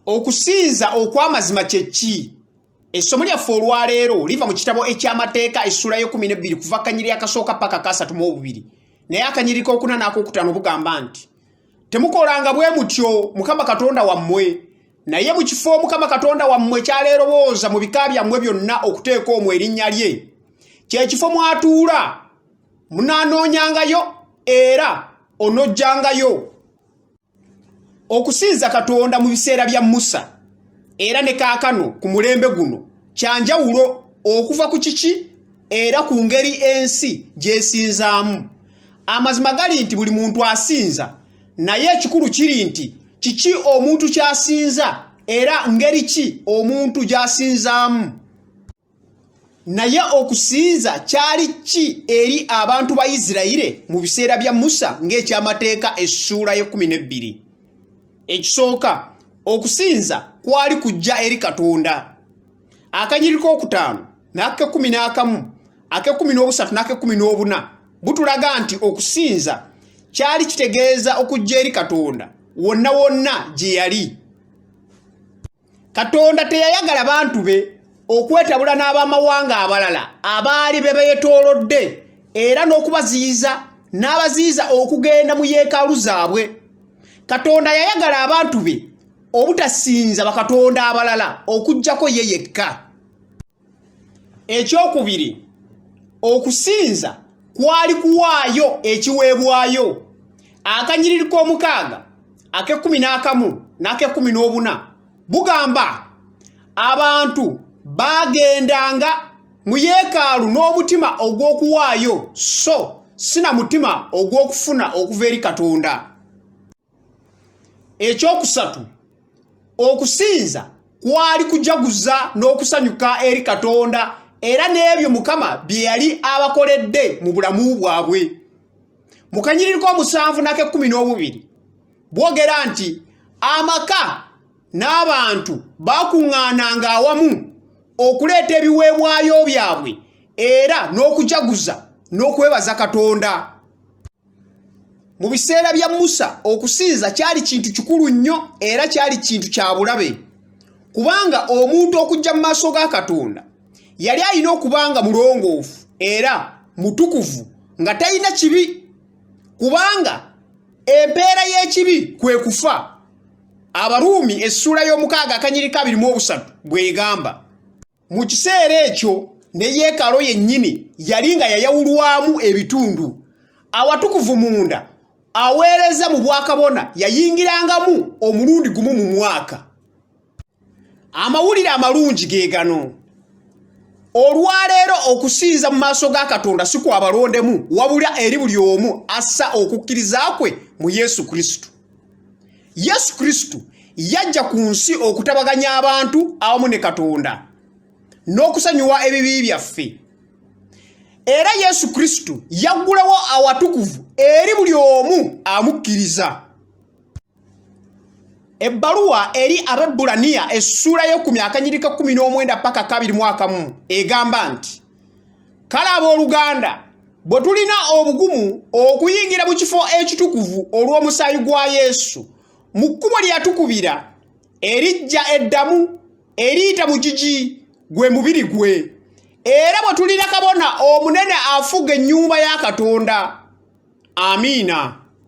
okusinza okw'amazima kye ki essomo lyaffe olwaleero liva mu kitabo eky'amateeka essula y'ekumi n'ebbiri kuva kanyiri akasooka paka kasatu mu obubiri naye akanyiriko okuna n'akokutaano bugamba nti temukolanga bwe mutyo mukama katonda wammwe naye mu kifo mukama katonda wammwe kyaleerowooza mu bika byammwe byonna okuteeka omwo erinnya lye kyekifo mwatuula munaanoonyangayo era onojjangayo okusinza katonda mu biseera bya musa era ne kaakano ku mulembe guno kyanjawulo okuva ku kiki era ku ngeri ensi gyesinzaamu amazima gali nti buli muntu asinza naye ekikulu kiri nti kiki omuntu kyasinza era ngeri ki omuntu gyasinzaamu naye okusinza kyali ki eri abantu ba isirayire mu biseera bya musa ng'ekyamateeka essuula y'ekkumi n'ebbiri ekisooka okusinza kwali kujja eri katonda akanyiri k'okutaano n'ak'ekkumi n'akamu ak'ekkumi n'obusatu n'ak'ekkumi n'obuna butulaga nti okusinza kyali kitegeeza okujja eri katonda wonna wonna gye yali katonda teyayagala bantu be okwetabula n'abamawanga abalala abaali be beetoolodde era n'okubaziyiza n'abaziyiza okugenda mu yeekaalu zaabwe katonda yayagala abantu be obutasinza bakatonda abalala okuggyako ye yekka ekyokubiri okusinza kwali kuwaayo ekiweebwayo akanyiriri k'omukaaga ak'ekkumi n'akamu n'ak'ekkumi n'obuna bugamba abantu baagendanga mu yeekaalu n'omutima ogw'okuwaayo so si na mutima ogw'okufuna okuva eri katonda ekyokusatu okusinza kwali kujaguza n'okusanyuka eri katonda era n'ebyo mukama bye yali abakoledde mu bulamu bwabwe mu kanyiriri k'omusanvu n'ak'ekkumi n'obubiri bwogera nti amaka n'abantu baakuŋŋaananga awamu okuleeta ebiweebwayo byabwe era n'okujaguza n'okwebaza katonda mu biseera bya musa okusinza kyali kintu kikulu nnyo era kyali kintu kya bulabe kubanga omuntu okujja mu maaso ga katonda yali alina okuba nga mulongoofu era mutukuvu nga talina kibi kubanga empeera y'ekibi kwe kufa abaruumi essuula y'omukaaga akanyiriko abirimu obusatu bw'egamba mu kiseera ekyo ne yeekalo yennyini yali nga yayawulwamu ebitundu awatukuvu munda aweereza mu bwakabona yayingirangamu omulundi gumu mu mwaka amawulire amalungi ge gano olwaleero okusinza mu maaso ga katonda si kwabalondemu wabula eri buli omu assa okukkiriza kwe mu yesu kristo yesu kristo yajja ku nsi okutabaganya abantu awamu ne katonda n'okusonyiwa ebibi byaffe era yesu kristo yaggulawo awatukuvu eri buli omu amukkiriza ebbaluwa eri ababbulaniya essuula y'ekumi akanyirika kkumi n'omwenda paka kabiri mwakamu egamba nti kale abooluganda bwe tulina obugumu okuyingira mu kifo ekitukuvu olw'omusaayi gwa yesu mu kkubo lye yatukubira erijja eddamu eriyita mu gigi gwe mubiri gwe era bwe tulina kabona omunene afuga ennyumba ya katonda amiina